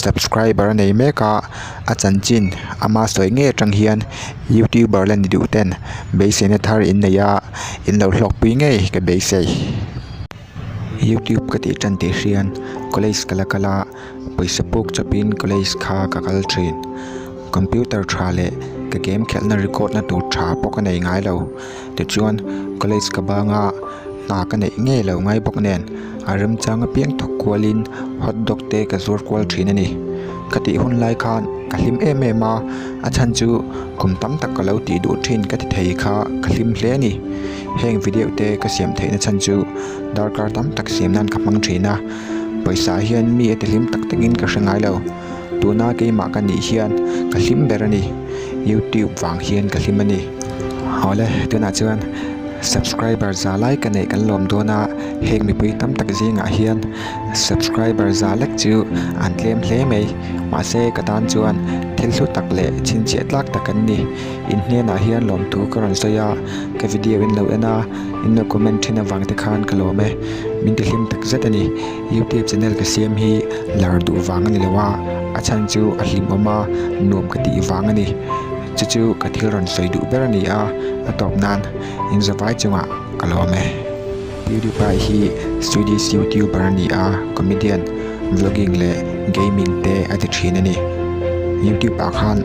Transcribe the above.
subscriber a nei mek a a chanchin ama sawi ngei atang hian youtuber la ni duh ten beiseina thar in nei a in lo hlawk pui ngei ka beisei youtube ka tih tan tih hrian college ka la kal a pawisa puk chawp in college kha ka kal thin computer tha leh ka game khelh na record na tur tha pawh ka nei ngai lo. Tichuan, college ka banga hna ka neih ngei lo ngai bawk nen, a remchang apiang thawk kualin hot dog te ka zuar kual thin a ni. Ka tih hun lai khan ka hlim em em a, a chhan chu kum tam tak ka lo tih duh thin ka ti thei kha ka hlim hle a ni. Heng video te ka siam theihna chhan chu darkar tam tak siam nan ka hmang thin a, pawisa hian mi a ti hlim tak takin ka hre ngai lo. Tuna keimah ka nih hian ka hlim ber a ni. YouTube vang hian ka hlim a ni. Awle, tunah chuan subscriber za lai ka neih kan lawm dawn a, heng mipui tam tak zingah hian subscriber za lek chu an tlem hle mai. Mahse, ka tan chuan thil hlu tak leh chhinchhiah tlak tak an ni. In hnenah hian lawmtu ka rawn sawi a, ka video in lo en a, in lo comment thin avang te khan ka lawm e. Min ti hlim tak zet a ni. Youtube channel ka siam hi lar duh vang a ni lo a, a chhan chu a hlimawm a, nuam ka tih vang a ni. Chu chu ka thil rawn sawi duh ber a ni a, a tawp nan Inzawvai chungah ka lawm e. Pewdiepie hi Swedish Youtuber a ni a, comedian, vlogging leh gaming te a ti thin a ni. Youtube ah khan.